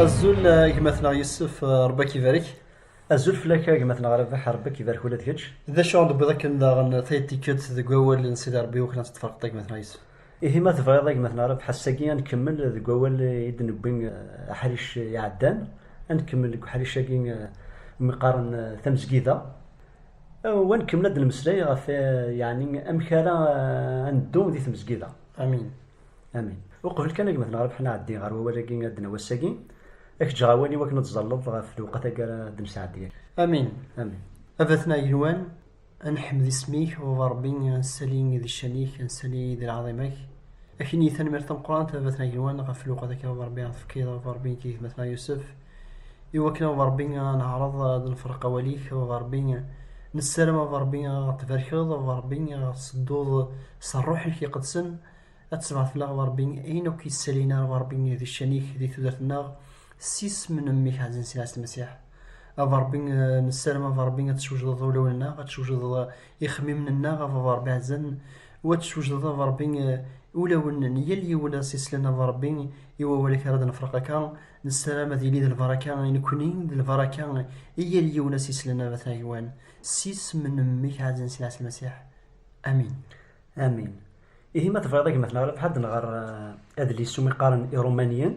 azul eh, gma-tneɣ Yusef eh, Rebbi ak-ibarek azul fell-ak eh, gma-tneɣ Rabaḥ Rebbi ak-ibarek ula d kečč d acu ɣ-d-wwiḍ akken daɣen tayet tikkelt deg wawal n Sidi Rebbi wakken ad teṭṭfeɣ gma-tneɣ Yusef Ihi ma tebɣiḍ a gma At Nɛereb, ass-agi ad nkemmel deg wawal i d-newwi aḥric iɛeddan, ad nkemmel deg uḥric-agi umi qqaren tamezgida, u ad nkemmel ad d-nemmeslay ɣef yeɛni amek ara ad neddu di tmezgida. Amin. Amin. Uqbel kan a gma At Nɛereb ad nɛeddi ɣer wawal-agi adden n wass-agi, ad k-ǧǧeɣ awal i wakken ad tẓalleḍ ɣef lewqat-agi ara d-nesɛeddi. Amin. Amin. A Batna Yelwan, Ad neḥmed isem-ik, Baba Ṛebbi, ad nsali d ccan-ik, ad nsali d lɛaḍima-k. Ad k-nini tanemmirt tameqqrant, a baba-tneɣ agelwan, ɣef lweqt akka, Baba Ṛebbi, ad tefkiḍ, Baba Ṛebbi, nekk d gma-tneɣ Yusef. Iwakken, Baba Ṛebbi, ad neɛreḍ ad nefreq awal-ik, Baba Ṛebbi. Nessaram, Baba Ṛebbi, ad ɣ-tbarkeḍ, Baba Ṛebbi, ad ɣ-tsedduḍ s Ṛṛuḥ-ik iqedsen, ad tessebɛed fell-aɣ, Baba Ṛebbi, ayen akk yessalin, a Ṛebbi, di ccan-ik, di tudert-nneɣ, s isem n Mmi-k ɛzizen Ssid Ɛisa Lmasiḥ. a Ṛebbi nessaram a Ṛebbi ad teswejdeḍ ulawen-nneɣ ad teswejdeḍ ixemmimen-nneɣ a Ṛebbi ɛezzan u ad teswejdeḍ a Ṛebbi ulawen n yal yiwen ad s-islen a Ṛebbi i wawal-ik ara d-nefreq akka nessaram ad yili d lbaraka i nekkni d lbaraka i yal yiwen ad s-islen a Ṛebbi agwan s isem n mmi-k ɛezzan Sidi Ɛisa Lmasiḥ amin amin Ihi ma tebɣiḍ a gma-tneɣ ilaq ḥad nɣer adlis umi qqaren Iṛumaniyen,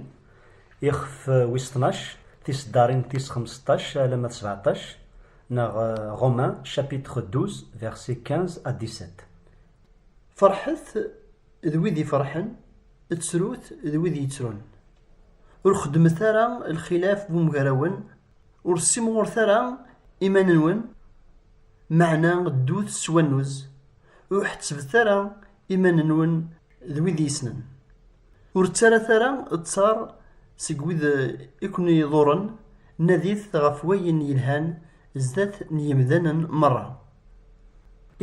ixef wis tnac, tiseddarin tis xemseṭṭac alamma d sebeɛṭac, neɣ Romains chapitre douze versets quinze à dix-sept. Ferḥet d wid ifeṛḥen, ttrut d wid yettrun. Ur xeddmet ara lxilaf wemgarawen, ur ssimɣuret ara iman-nwen, meɛna ddut s wannuz. Ur ḥettbet ara iman-nwen d wid yessnen. Ur ttarat ara ttaṛ seg wid i ken-iḍuṛṛen, nadit ɣef wayen yelhan zdat n yemdanen meṛṛa.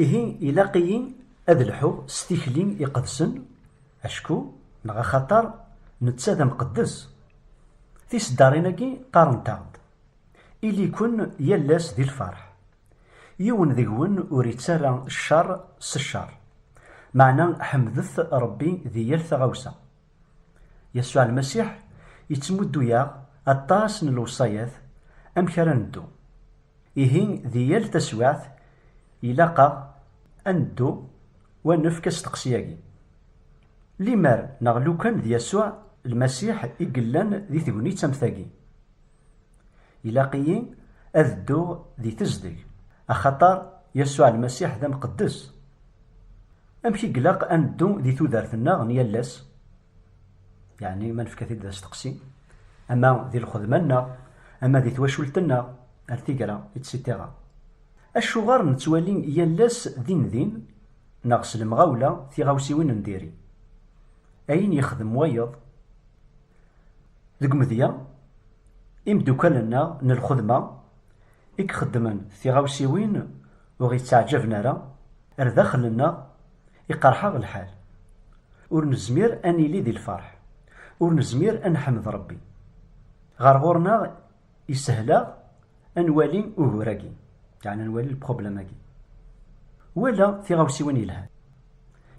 Ihi ilaq-iyi ad lḥuɣ s tikli iqedsen, acku neɣ axaṭer netta d amqeddes. Tiseddaṛin-agi qqarent-aɣ-d, Ili-ken yal ass di lfeṛḥ, Yiwen deg-wen ur ittarra ccer s ccer. Meɛna ḥemdet Ṛebbi di yal taɣawsa. Yasuɛ Lmasiḥ ittmuddu-yaɣ aṭas n lewṣayat amek ara neddu. Ihi di yal taswiɛt ilaq-aɣ ad neddu u ad nefk asteqsi-agi, Limer neɣ lukan d Yasuɛ Lmasiḥ i yellan di tegnit am tagi? Ilaq-iyi ad dduɣ di tezdeg, axaṭer Yasuɛ Lmasiḥ d amqeddes. Amek i ilaq ad neddu di tudert-nneɣ n yal ass? Yeɛni ma nefka-t-id d asteqsi, ama di lxedma-nneɣ, ama di twacult-nneɣ, ar tigra, itsitira. Acuɣer nettwali yal ass din din neɣ s lemɣawla tiɣawsiwin n diri? Ayen yexdem wayeḍ, Deg umedya, imeddukal-nneɣ n lxedma i ixeddmen tiɣawsiwin ur ɣ-yettaɛǧaben ara, ar daxel-nneɣ iqerḥ-aɣ lḥal, ur nezmir ad nili di lferḥ, ur nezmir ad neḥmed Rebbi. Ɣer ɣur-neɣ Isehel-aɣ ad nwali ugur-agi, yeɛni ad nwali lpṛublem-agi, wala tiɣawsiwin yelhan.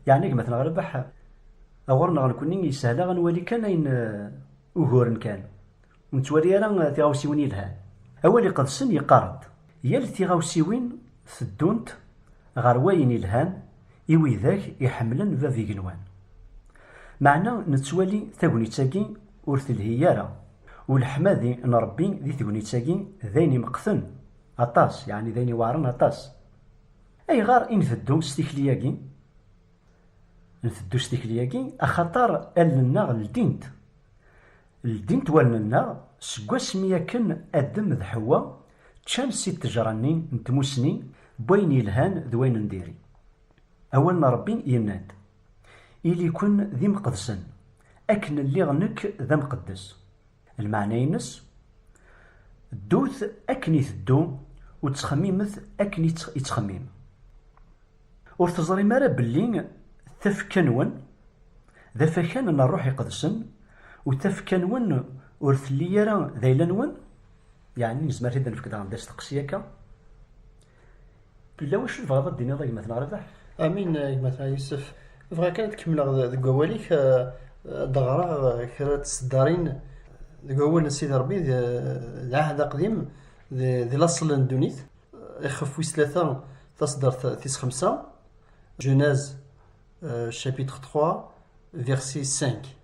Yeɛni gma-tneɣ a Rabaḥ, ɣur-neɣ nekkni isehel-aɣ ad nwali kan ayen uguren kan, ur nettwali ara tiɣawsiwin yelhan. Awal Iqedsen yeqqar-d, Yal tiɣawsiwin teddunt ɣer wayen yelhan i widak iḥemmlen Bab Igenwan. Meɛna nettwali tagnit-agi ur telhi ara Uleḥmadi n Ṛebbi di tegnit-agi d ayen imeqten aṭas, yeɛni d ayen iweɛṛen aṭas. Ayɣer i nteddu s tikli-agi? Nteddu s tikli-agi axaṭer allen-nneɣ ldint. Ldint wallen-nneɣ seg wasmi akken Adem d Ḥewwa ččan si ttejṛa-nni n tmussni n wayen yelhan d wayen n diri. Awal n Ṛebbi yenna-d. Ili-ken d imqedsen, akken lliɣ nekk d amqeddes. Lmeɛna-ines, Ddut akken iteddu u ttxemmimet akken ittxemmim. Ur teẓrim ara belli tafekka-nwen d afakan n Ṛṛuḥ Iqedsen u tafekka-nwen ur telli ara d ayla-nwen? Yeɛni nezmer ad nefk daɣen d asteqsi akka? Yella wacu tebɣiḍ ad d-tiniḍ a gma-t neɣ Rabaḥ? Amin a gma-t a Yusef. Bɣiɣ kan ad kemmleɣ deg wawal-ik, ad d-ɣreɣ kra n tseddarin deg wawal n Sidi Ṛebbi d Ɛahd Aqdim d laṣel n ddunit, ixef wis tlata taseddart tis xemsa, Genèse chapitre 3 verset 5.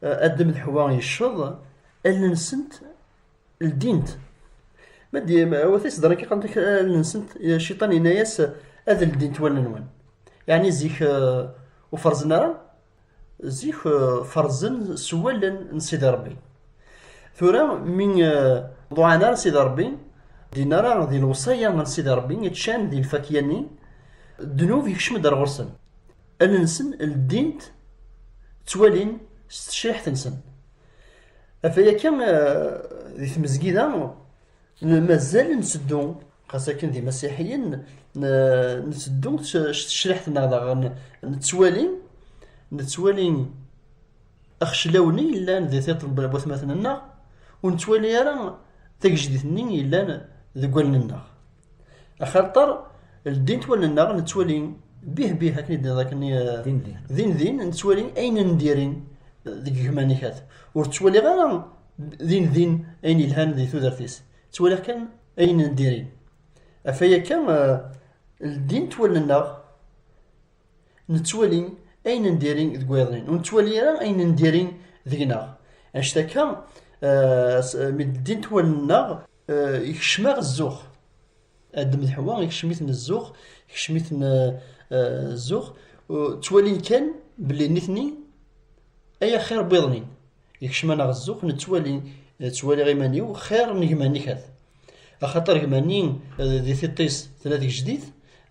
Adam d Ḥwa yecceḍ, allen-nsent ldint. Ma d wat iseḍran kan qant allen-nsent, cciṭan yenna-yas ad ldint wallen-nwen. Yeɛni zik ur ferzen ara, zik ferzen s wallen n Sidi Ṛebbi. Tura mi ur ḍuɛan ara Sidi Ṛebbi, ddin ara di lewṣaya n Sidi Ṛebbi, ččan di lfakya-nni, ddnub yekcem-d ar ɣur-sen. Allen-nsen ldint, ttwalin s tecciḥt-nsen. Ɣef waya kan, di tmezgida mazal nteddu, xas akken d imasiḥiyen, nteddu s tecriḥt-nneɣ daɣen nettwali, nettwali axeclaw-nni yellan di tiṭ n watmaten-nneɣ, ur nettwali ara tagejdit-nni yellan deg wallen-nneɣ. Axaṭer ldint wallen-nneɣ nettwali bih bih akken i d-tenniḍ akken din din nettwali ayen n diri-n deg gma Nikat. Ur ttwaliɣ ara din din ayen yelhan di tudert-is. Ttwaliɣ kan ayen n diri. Afay akka ldint wallen-nneɣ nettwali ayen n diri deg wayeḍnin. Ur nettwali ara ayen n diri deg-neɣ. Anect akka mi ldint wallen-nneɣ Ikcem-aɣ zzux. Adem d Ḥwa ikcem-iten zzux, ikcem-iten zzux. Ttwalin kan belli nitni ay axir n wiḍ-nni. Ikcem-aneɣ zzux, nettwali, ttwaliɣ iman-iw xir n gma-nni kat. Axaṭer gma-nni di tiṭ-is tella tgejdit,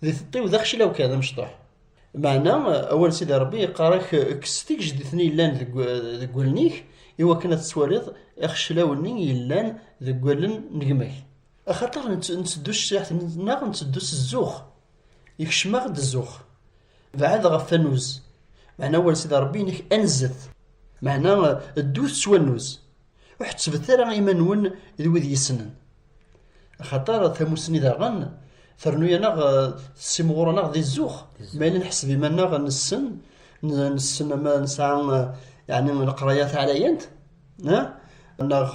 di tiṭ-iw d axcilaw kan, d amecṭuḥ. Meɛna awal Sidi Ṛebbi yeqqar-ak kkes tigejdit-nni yellan deg deg wallen-ik i wakken ad tettwaliḍ ixeclawen-nni yellan deg wallen n gma-k. Axaṭer nteddu s tecciḥt-nneɣ, nteddu s zzux, ikcem-aɣ-d zzux. Beɛɛed ɣef wannuz, meɛna awal Sidi Ṛebbi-inek anzet, meɛna ddu s wannuz, Ur ḥettbet ara iman-nwen d wid yessnen. Axaṭer tamussni daɣen ternu-aneɣ tessimɣur-aneɣ di zzux. Ma yella nḥesseb iman-nneɣ nessen, nessen ma nesɛa yeɛni leqraya taɛlayant, neɣ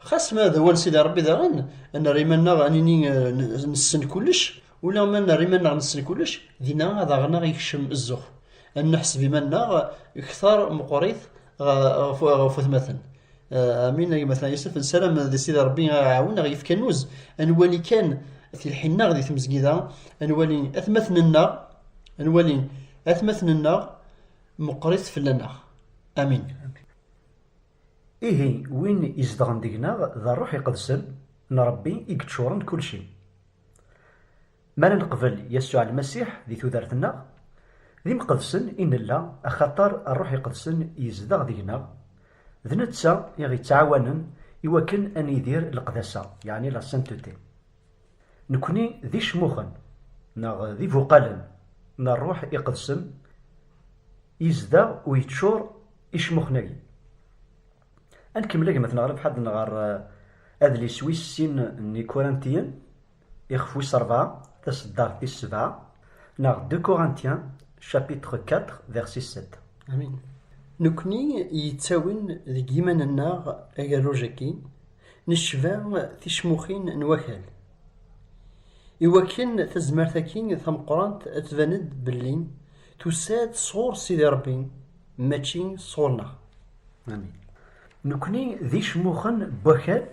xas ma d awal Sidi Ṛebbi daɣen, nerra iman-nneɣ ad nini nessen kullec. Ula ma nerr iman-nneɣ nessen kullec, dinna ad aɣ-naɣ yekcem zzux, ad neḥseb iman-nneɣ kter meqqwrit ɣef watmaten. Amin a gma Yusef, nessaram di Sidi Rebbi a aɣ-iɛawen, a ɣ-yefk annuz, ad nwali kan tilḥi-nneɣ di tmezgida, ad nwali atmaten-nneɣ, ad nwali atmaten-nneɣ meqqwrit fell-aneɣ. Amin. Ihi, win izedɣen deg-neɣ d Ṛṛuḥ Iqedsen n Ṛebbi i yeččuṛen d kullci. Mi ara neqbel Yasuɛ Lmasiḥ di tudert-nneɣ, d imqedsen i nella axaṭer Ṛṛuḥ Iqedsen yezdeɣ deg-neɣ, d netta i ɣ-ittɛawanen i wakken ad nidir leqdasa, yeɛni la sainteté. Nekkni d icmuxen neɣ d ibuqalen n Ṛṛuḥ Iqedsen yezdeɣ u yeččur icmuxen-agi. Ad nkemmel a gma-tneɣ Rebḥa ad nɣer adlis wis sin n Ikurantiyen, ixef wis rebɛa, taseddart tis sebɛa, neɣ De Corinthiens, chapitre iv, verset sept. Amin. Nekkni yettawin deg yiman-nneɣ agerruj-agi, necba ticmuxin n wakal. Iwakken tazmert-agi tameqqrant ad tban-d belli tusa-d sɣur Sidi Rebbi, mačči sɣur-neɣ. Nekni d icmuxen n wakal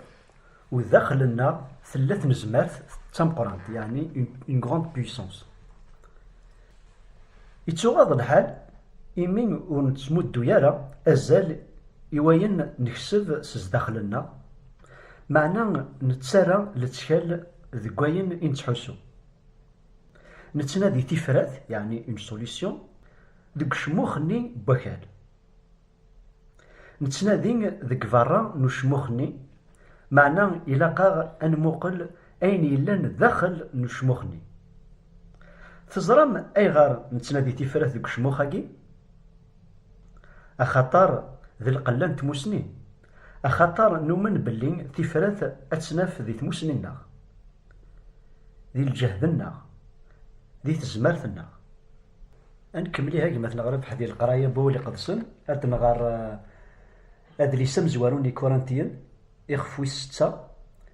u daxel-nneɣ tella tnezmart d tameqqrant, yeɛni une grande puissance. Ittuɣaḍ lḥal imi ur nettmuddu ara azal i wayen nekseb s zdaxel-nneɣ, meɛna nettarra lettkal deg wayen i nettḥussu. Nettnadi tifrat, yeɛni une solution, deg ucmux-nni n wakal. Nettnadi deg berra n ucmux-nni, meɛna ilaq-aɣ ad nmuqel ayen yellan daxel n ucmux-nni. Teẓram ayɣer nettnadi tifrat deg ucmux-agi? Axaṭer d lqella n tmusni, axaṭer numen belli tifrat ad tt-naf di tmusni-nneɣ, di lǧehd-nneɣ, di tezmert-nneɣ. Ad nkemmel ihi a gma ad nɣer abḥed i leqraya n Wawal Iqedsen, ad nɣer adlis amezwaru n Ikurantiyen, ixef wis setta,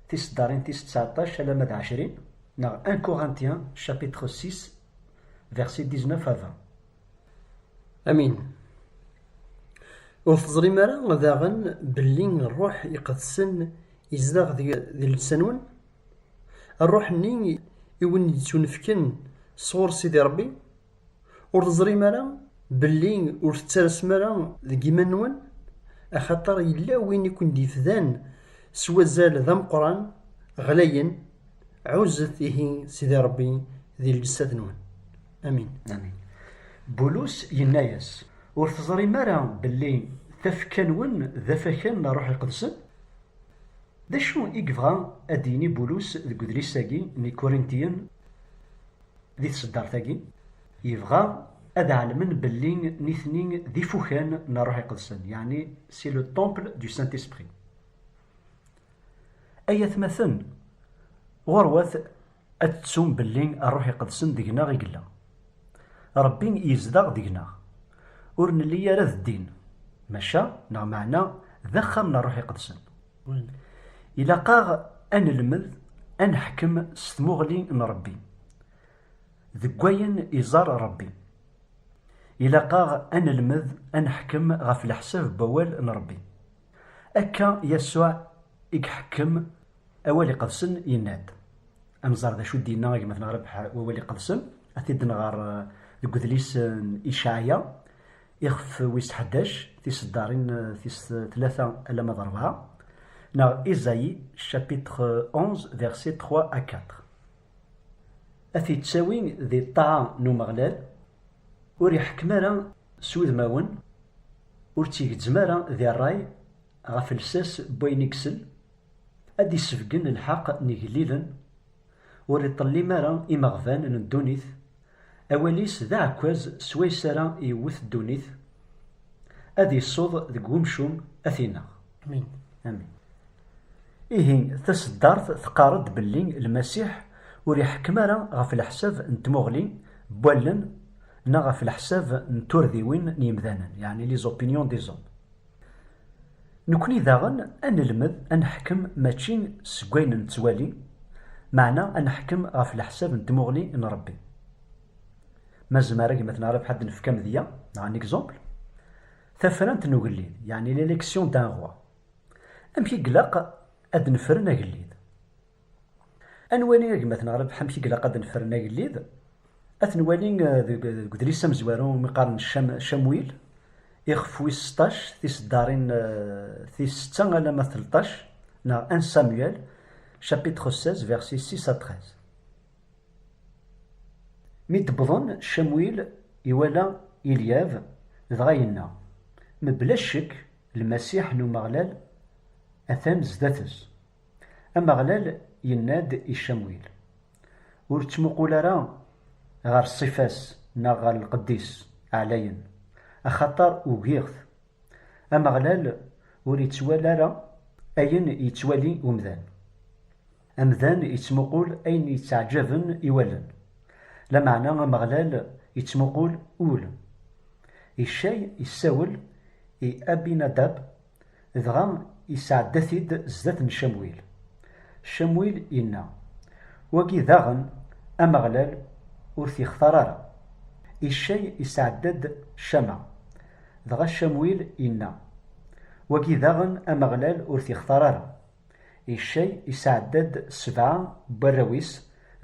tiseddarin tis tseɛṭac alamma d ɛecrin, neɣ Un Corinthien, chapitre six, versets dix-neuf à vingt. Amin. Ur teẓrim ara daɣen belli Ṛṛuḥ Iqedsen izdeɣ di llebsa-nwen? Rruḥ-nni i wen-yettunefken sɣur Sidi Ṛebbi? Ur teẓrim ara belli ur tettarasem ara deg yiman-nwen? Axaṭer yella win i ken-d-yefdan s wazal d ameqqran, ɣlayen, ɛuzzet ihi Sidi Ṛebbi di lǧessat-nwen. Amin. Amin. Bulus yenna-yas, Ur teẓrim ara belli tafekka-nwen d afakan n Ṛṛuḥ Iqedsen? D acu i yebɣa ad d-yini Bulus deg udlis-agi n Ikurintiyen di tseddart-agi? Yebɣa ad ɛelmen belli nitni d ifukan n Rruḥ Iqedsen, yeɛni c'est le temple du Saint-Esprit. Ay atmaten, ɣurwat Ad tettum belli Rruḥ Iqedsen deg-neɣ i yella. Ṛebbi yezdeɣ deg-neɣ. Ur nelli ara d ddin, maca, neɣ meɛna, d axxam n Rruḥ Iqedsen. Ilaq-aɣ ad nelmed ad neḥkem s tmuɣli n Ṛebbi, deg wayen iẓerr Ṛebbi. Ilaq-aɣ ad nelmed ad neḥkem ɣef leḥsab n wawal n Ṛebbi. Akka Yasuɛ i iḥekkem. Awal iqedsen yenna-d. Ad nẓer d acu d-yenna gma-tneɣ Rrebḥ wawal iqedsen, ad t-id-nɣer deg udlis n Icaɛya, ixef wis ḥdac, tiseddarin tis tlata alamma d rebɛa, neɣ Isaïe chapitre onze versets trois à quatre. Ad t-ittawi di ṭṭaɛa n Umeɣlal, ur iḥekkem ara s wudmawen, ur tt-igezzem ara di rray ɣef lsas n wayen i isell, Ad d-isebgen lḥeq n igellilen, ur iṭellim ara imeɣban n ddunit, awal-is d aɛekkaz swayes ara yewwet ddunit, ad isuḍ deg wemcum ad t-ineɣ. Amin. Ihi, taseddart teqqar-d belli Lmasiḥ ur iḥekkem ara ɣef leḥsab n tmuɣli n wallen neɣ ɣef leḥsab n turdiwin n yemdanen, yeɛni les opinions des hommes. Nekkni daɣen ad nelmed ad neḥkem mačči seg wayen nettwali, meɛna ad neḥkem ɣef leḥsab n tmuɣli n Rebbi. Ma zemar a gma Tenɛrif ad d-nefk amedya neɣ un exemple, tafrant n ugellid, yeɛni l'élection d'un roi. Amek i ilaq ad d-nefren agellid? Ad nwali agmat neɣ rrbeḥ amek i ilaq ad nefren agellid, ad t-nwali deg udlis amezwaru umi qqaren Camwil, ixef wis seṭṭac, tiseddarin tis setta alamma d telṭac, neɣ un Samuel, chapitre seize, versets six à treize. Mi d-wwḍen, Camwil iwala Ilyab, dɣa yenna, Mebla ccek, Lmasiḥ n Umeɣlal atan sdat-s. Ameɣlal yenna-d i Camwil, Ur ttmuqul ara ɣer ṣṣifa-s neɣ ɣer lqedd-is ɛlayen, axaṭer ugiɣ-t. Ameɣlal ur ittwali ara ayen yettwali umdan. Amdan ittmuqul ayen yetteɛǧaben i wallen, lameɛna Ameɣlal ittmuqul ul. Icay yessawel i Abinadab Dɣa isɛedda-t-id zdat n Camwil. Camwil inna, Wagi daɣen, Ameɣlal ur t-ixtar ara. Iccay isɛedda-d Cama. Dɣa Camwil inna, Wagi daɣen, Ameɣlal ur t-ixtar ara. Iccay isɛedda-d sebɛa n warraw-is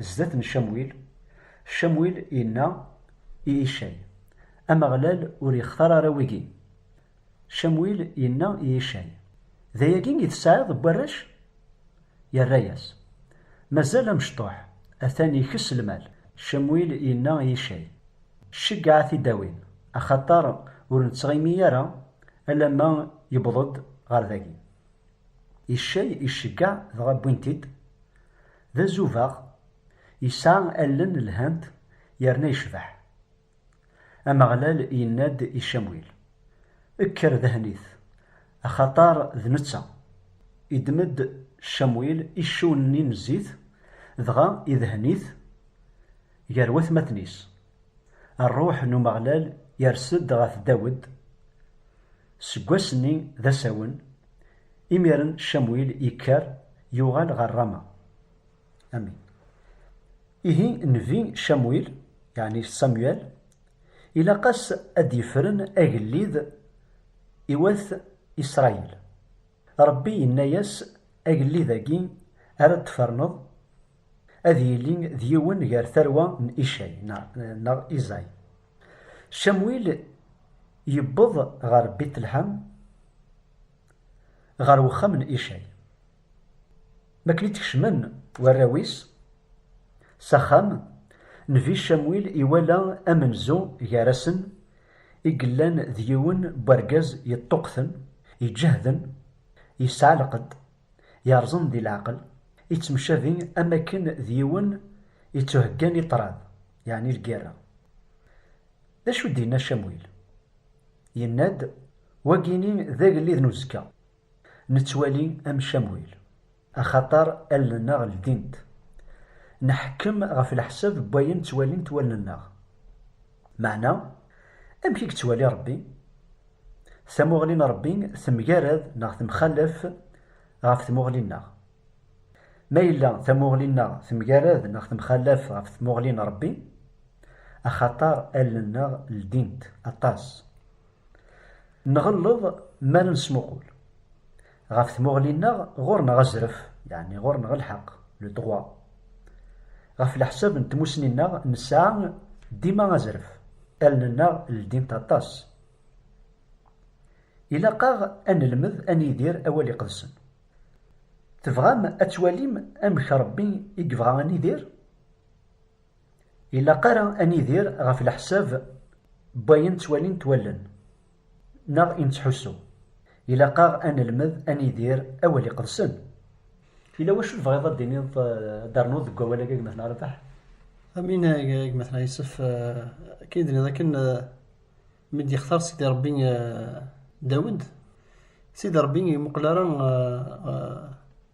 zdat n Camwil. Camwil inna i Iccay, Ameɣlal ur ixtar ara wigi. Camwil yenna i Yicay, D ayagi i tesɛiḍ n warrac? Yerra-yas, Mazal amecṭuḥ, atan ikess lmal. Camwil yenna i Yicay, Ceggeɛ a t-id-awin, axaṭer ur nettɣimi ara alamma yewweḍ-d ɣer dagi. Yicay iceggeɛ dɣa wwin-t-id. D azubaɣ, yesɛa allen lhant yerna yecbeḥ. Ameɣlal yenna-d i Camwil, Kker dhen-it, axaṭer d netta. Iddem-d Camwil iccunen-nni n zzit, dɣa idhen-it gar watmaten-is. Ṛṛuḥ n Umeɣlal yers-d ɣef Dawed. Seg wass-nni d asawen, imiren Camwil yekker, yuɣal ɣer Rama. Amin. Ihi Nnbi Camuil, yeɛni Samuel, ilaq-as ad d-yefren agellid i wat Isṛayil. Ṛebbi yenna-yas, Agellid-agi ara d-tferneḍ, ad yili d yiwen gar tarwa n Icay, neɣ Iẓay. Camuil yewweḍ ɣer Bit-Lḥam, ɣer wexxam n Icay. Mi akken i d-kecmen warraw-is s axxam, Nnbi Camwil iwala amenzu gar-asen i yellan d yiwen n wergaz yeṭṭuqten, iǧehden, yesɛa lqedd, yerẓen di leɛqel, yettemcabi am wakken d yiwen yettuheggan i ṭṭrad, yeɛni lgirra. D acu i d-yenna Camwil? Yenna-d, Wagini d agellid n uzekka. Nettwali am Camuil, axaṭer allen-nneɣ ldint. Nḥekkem ɣef leḥsab n wayen ttwalint wallen-nneɣ. Meɛna, amek i yettwali Ṛebbi? Tamuɣli n Ṛebbi temgarad neɣ temxalaf ɣef tmuɣli-nneɣ. Ma yella tamuɣli-nneɣ temgarad neɣ temxalaf ɣef tmuɣli n Ṛebbi, axaṭer allen-nneɣ ldint aṭas. Nɣelleḍ mi ara nesmuqul ɣef tmuɣli-nneɣ, ɣur-neɣ azref, yeɛni ɣur-neɣ lḥeqq, le droit. Ɣef leḥsab n tmussni-nneɣ, nesɛa dima azref, allen-nneɣ ldint aṭas. Ilaq-aɣ ad nelmed ad nidir awal iqedsen. Tebɣam ad twalim amek Ṛebbi i yebɣa ad nidir? Ilaq ara ad nidir ɣef leḥsab n wayen ttwalint wallen neɣ i nettḥussu. Ilaq-aɣ ad nelmed ad nidir awal iqedsen. Yella wacu tebɣiḍ ad d-tiniḍ, ad d-ternuḍ deg wawal-agi a gma-tneɣ Rabaḥ? Amin a gma-tneɣ Yusef, akken i d-tenniḍ akken, Mi d-yextar Sidi Ṛebbi Dawed, Sidi Ṛebbi ur imuqel ara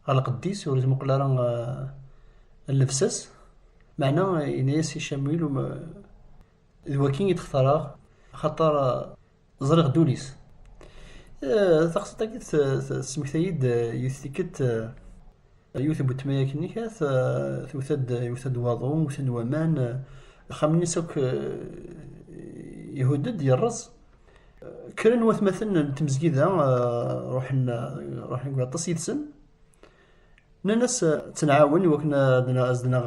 ɣer lqedd-is, ur imuqel ara ɣer llebsa-s, meɛna yenna-yas i Camuil, D wayi i d-xtareɣ, axaṭer ẓriɣ ddunit. Taqsiṭ-agi tesmektay-d yiwet n tikkelt. Yiwet n weltma yakni kat, twet-d iwet-d waḍu, wten-d waman, axxam-nnes akk ihudd-d, yerreẓ. Kkren watmaten n tmezgida, ruḥen ruḥen deg waṭas yid-sen. Nnan-as ad tt-nɛawen iwakken ad as-d-naɣ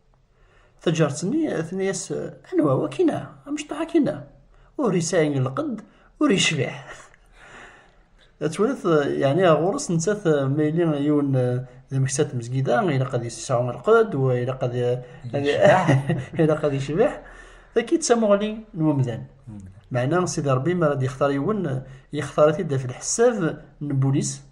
Taǧart-nni tenna-yas, Anwa wakina, amecṭuḥ akina, ur yesɛi lqedd, ur yecbiḥ. Ttwalat, yeɛni ɣer ɣur-s nettat ma yili yiwen d ameksa n tmezgida, ilaq ad yesɛu lqedd, wa ilaq ad ilaq ad yecbiḥ. Taki d tamuɣli n umdan. Meɛna Sidi Ṛebbi mi ara d-yextar yiwen, yextar-it-id ɣef lḥesab n wul-is.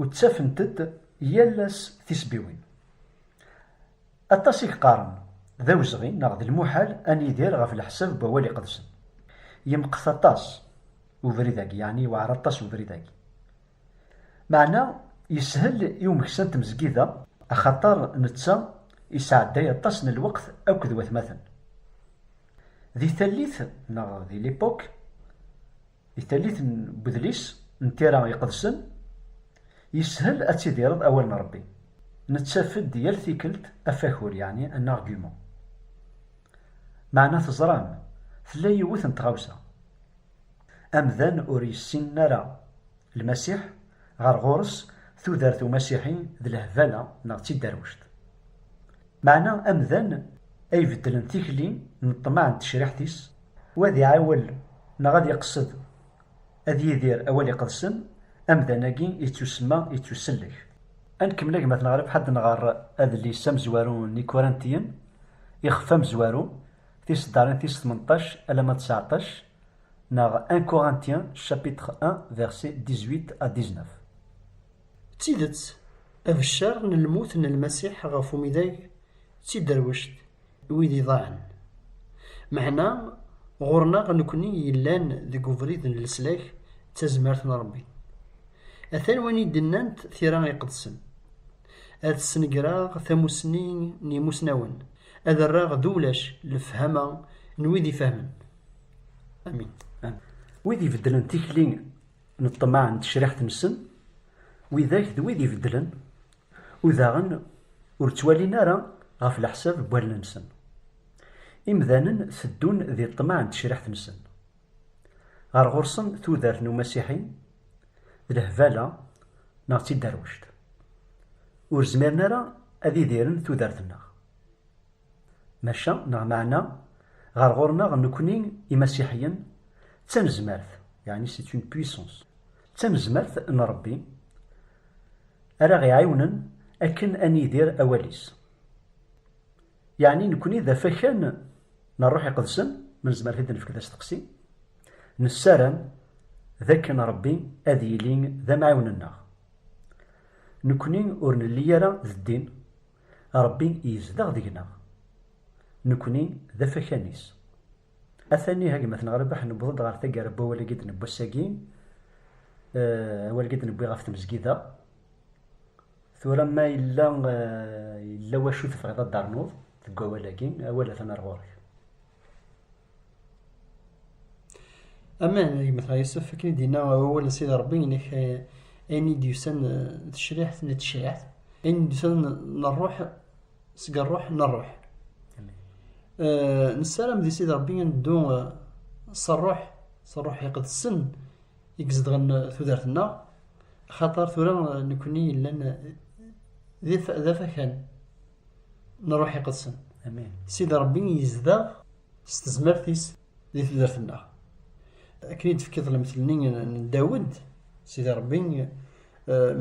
U ttafent-d yal ass tisbiwin. Aṭas i yeqqaren, d awezɣi neɣ d lmuḥal a nidir ɣef leḥsab n Wawal Iqedsen. Yemqet aṭas ubrid-agi, yeɛni yewɛer aṭas ubrid-agi. Meɛna yeshel i umeksa n tmezgida, axaṭer netta yesɛedday aṭas n lweqt akked watmaten. Di tallit neɣ di l'époque, I tallit n udlis n tira iqedsen, yeshel ad tidireḍ awal n Rebbi. Nettaf-d yal tikelt afakur, yeɛni un argument. Meɛna teẓram, tella yiwet n tɣawsa. Amdan ur yessinen ara Lmasiḥ, ɣer ɣur-s tudert umasiḥi d lehbala neɣ d tidderwect. Meɛna amdan ay ibeddlen tikli n ṭṭmeɛ n tecriḥt-is U ad iɛiwel neɣ ad iqsed ad yidir awal iqedsen, amdan-agi yettusemma yettusellek. Ad nkemmel agmat-nneɣ rrbeḥ ad nɣer adlis amezwaru n Ikurantiyen, ixef amezwaru, tiseddarin tis tmenṭac alamma d tseɛṭac, neɣ Un Corinthien chapitre un verset dix-huit à dix-neuf. D tidet, abeccer n lmut n Lmasiḥ ɣef umidag d tiderwect. wid iḍaɛen. Meɛna, ɣur-neɣ nekkni yellan deg ubrid n leslak d tazmert n Ṛebbi. Atan win i d-nnant tira iqedsen, Ad snegreɣ tamussni n yimussnawen, ad rreɣ d ulac lefhama n wid ifehmen. Amin. Wid ibeddlen tikli n ṭṭmeɛ n tecriḥt-nsen, widak d wid ibeddlen Udaɣen ur ttwalin ara ɣef leḥsab n wallen-nsen. Imdanen teddun di ṭṭmeɛ n tecriḥt-nsen. Ɣer ɣur-sen tudert n umasiḥi d lehbala neɣ d tiderwect. Ur zmiren ara ad idiren tudert-nneɣ. Maca neɣ meɛna ɣer ɣur-neɣ nekkni imasiḥiyen d tanezmart, yeɛni c'est une puissance. D tanezmart n Ṛebbi ara ɣ-iɛiwnen akken a nidir awal-is. Yeɛni nekkni d afakan n Ṛṛuḥ Iqedsen, ma nezmer ad d-nefk d asteqsi, nessaram d akken Ṛebbi ad yili d amɛiwen-nneɣ. Nekkni ur nelli ara d ddin, Ṛebbi yezdeɣ deg-neɣ. Nekkni d afakan-is. Atan ihi a gma Ten Rrbeḥ newweḍ-d ɣer taggara n wawal-agi i d-newwi ass-agi, awal-agi i d-newwi ɣef tmezgida. Tura ma yella yella wacu tebɣiḍ ad d-ternuḍ deg wawal-agi, awal atan ar ɣur-k. Aman, a gma Ten Yusef, akken i d-yenna wawal n Sidi Ṛebbi, inek ayen i d-yusan d tecriḥt. D tecriḥt. Ayen i d-yusan n ṛṛuḥ. seg ṛṛuḥ n ṛṛuḥ nessaram di Sidi Ṛebbi ad neddu s ṛṛuḥ s ṛṛuḥ iqedsen i izedɣen tudert-nneɣ axaṭer tura nekkni yellan d afakan n ṛṛuḥ iqedsen Sidi Ṛebbi yezdeɣ s tezmert-is di tudert-nneɣ akken i d-tefkiḍ lemtel-nni n Dawed Sidi Ṛebbi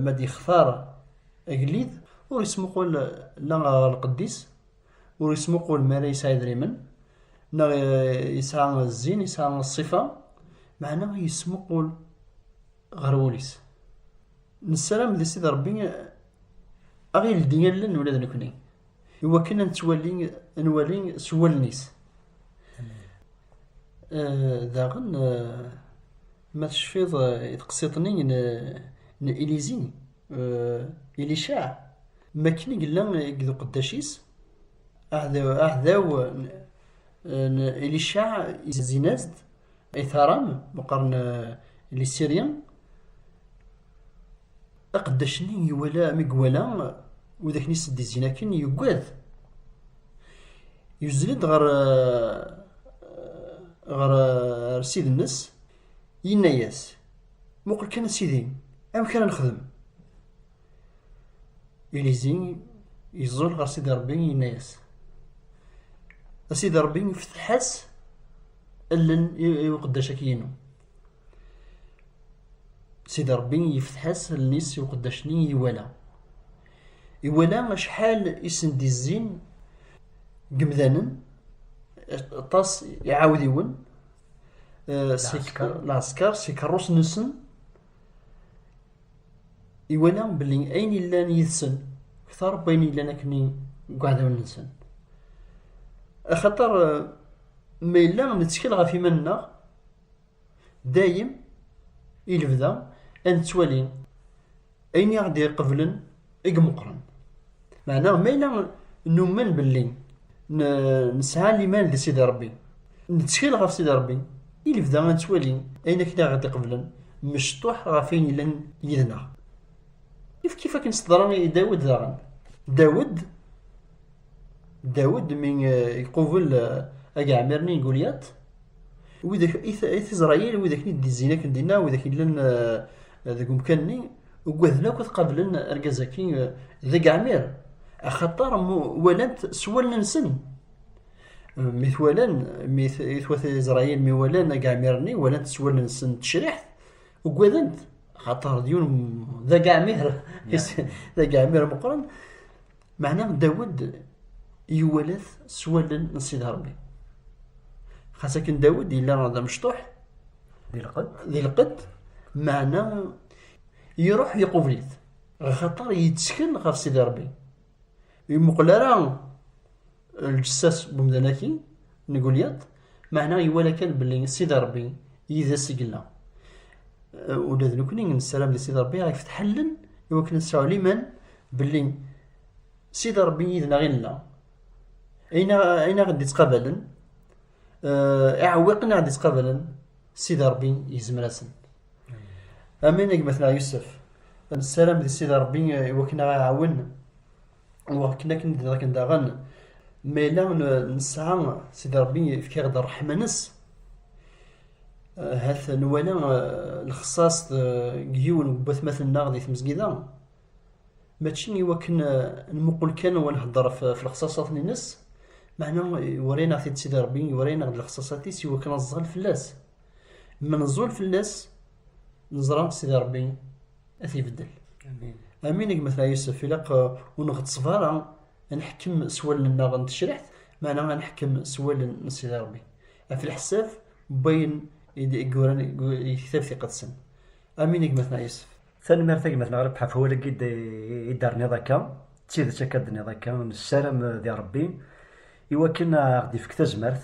ma d-yextar Agellid ur ismuqul la ɣer lqedd-is, ur ismuqul mi ara yesɛa idrimen, neɣ yesɛa zzin, yesɛa ṣṣifa, meɛna yesmuqul ɣer wul-is. Nessaram di Sidi Ṛebbi ad ɣ-yeldi allen ula d nekni, i wakken ad nettwali, ad nwali s wallen-is. Daɣen, ma tecfiḍ i teqsiḍt-nni n Ilizi, Euh, Ilicaɛ, mi akken i yella deg uqeddac-is, aɛdaw n Ilicaɛ izin-as-d i Taram, meqqren Lisirya, aqeddac-nni iwala, mi iwala wid akken i s-d-izzin akken, yuggad. Yuzzel-d ɣer, ɣer, ɣer ssid-nnes, Yenna-yas, Muqel kan a Sidi, amek ara nexdem? Ilizi yeẓẓul ɣer Sidi Ṛebbi, yenna-yas, A Sidi Ṛebbi, fetteḥ-as allen i uqeddac-agi-inu. Sidi Ṛebbi yefteḥ-as allen-is i uqeddac-nni iwala. Iwala acḥal i sen-d-izzin n yemdanen, aṭas iɛawdiwen, lɛesker si keṛṛus-nsen iwala belli ayen yellan yid-sen ktar n wayen yellan akkenni deg uɛdawen-nsen axaṭer ma yella nettkel ɣef iman-nneɣ dayem i lebda ad nettwali ayen i aɣ-d-iqeblen i imeqqren. Meɛna ma yella numen belli nesɛa liman di Sidi Rebbi, nettkel ɣef Sidi Rebbi, i lebda ad nettwali ayen akken i aɣ-d-iqeblen mecṭuḥ ɣef ayen yellan yid-neɣ. Kif akken s-teḍra i Dawed daɣen. Dawed, Dawed mi iqubel agɛmir-nni n Gulyat, Widak i t-Izrayil, widak i d-izzin akken dinna, widak illan eh, deg umkan-nni, ugaden akk ad qablen argaz-agi eh, d ageɛmir, axaṭer walant s wallen-nsen. Eh, mi t-walan, mi t-wat Izrayil, mi walan ageɛmir-nni, walant s wallen-nsen tecriḥt, ugadent, axaṭer d yiwen d ageɛmir, d ageɛmir meqqren. Meɛna Dawed iwalat s wallen n Sidi Ṛebbi. Xas akken Dawed yella d amecṭuḥ, di lqedd, meɛna iruḥ iqubel-it, ɣer xaṭer yettkel ɣef Sidi Ṛebbi. Ur imuqel ara lǧessas n umdan-agi n Gulyat, meɛna iwala kan belli Sidi Ṛebbi yid-s i yella. Ula d nekkni nessaram di Sidi Ṛebbi ad yefteḥ allen i wakken ad nesɛu liman belli Sidi Ṛebbi yid-neɣ i nella. Ayen aɣ d-ittqabalen, iɛewwiqen aɣ d-ittqabalen, Sidi Ṛebbi yezmer-asen. Amin a gma-tneɣ Yusef. Nessaram di Sidi Ṛebbi i wakken ad aɣ-iɛawen. wakken akken d akken daɣen ma yella nesɛa sidi rebbi yefka-ɣ-d ṛṛeḥma-nes hat nwala lexṣaṣ deg yiwen n watmaten-nneɣ di tmezgida mačči i wakken nmuqel kan wa nheddeṛ ɣef lexṣaṣat-nnes meɛna iwala-aneɣ-t-id sidi rebbi iwala-aneɣ-d lexṣaṣat-is i wakken ad nẓal fell-as ma nẓul fell-as Neẓra Sidi Ṛebbi ad t-ibeddel. Amin gma Tra Yusef, ilaq ur nɣettṣeb ara ad nḥekkem s wallen-nneɣ n tecriḥt, meɛna ad nḥekkem s wallen n Sidi Ṛebbi, ɣef leḥsab n wayen i d-yuran deg Lektab Iqedsen. Amin gma Tra Yusef. Tanemmirt a gma-tneɣ Rebḥa ɣef wawal-agi i d-terniḍ akka. D tidet akka d-tenniḍ akka, nessaram di Ṛebbi iwakken a ɣ-d-ifk tazmert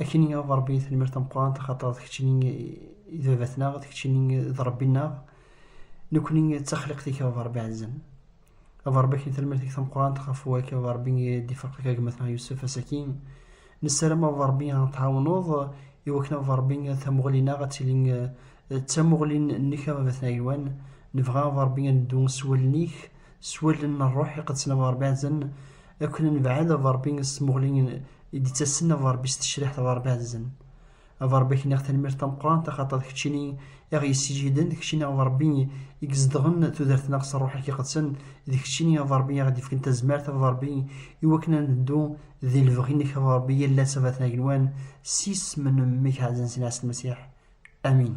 Akken i Ṛebbi i tenmir tameqqrant, axaṭer d kečč i d baba-tneɣ, d kečč i d Ṛebbi-nneɣ. Nekni d taxliqt-ik, a Ṛebbi ɛzizen. A Ṛebbi akken talmirt-ik tameqqrant, ɣef wakk a Ṛebbi i d-ifeqq akka gma-tneɣ Yusef asaki. Nessaram a Ṛebbi ad tɛawneḍ i wakken a Ṛebbi tamuɣli-nneɣ ad tili d tamuɣli-nnek a Baba-tneɣ agelwan. Nebɣa a Ṛebbi ad neddu s wallen-ik, s wallen n Ṛṛuḥ iqedsen a Ṛebbi ɛzizen, akken ad nebɛed a Ṛebbi s tmuɣli i d-ittasen a Ṛebbi s tecriḥt ɣer Baɛzen. A Ṛebbi ak-nniɣ tanemmirt tameqqrant axaṭer d keččini i ɣ-yessijhiden, d keččini a Ṛebbi i izedɣen tudert-nneɣ s Ṛṛuḥ-ik iqedsen, d keččini a Ṛebbi i aɣ-d-ifken tazmert a Ṛebbi iwakken ad neddu di lebɣi-nnek a Ṛebbi yal ass a Bat n Agenwan s yisem n Mmi-k Ɛezzen Sina Ɛessen Masiḥ. Amin.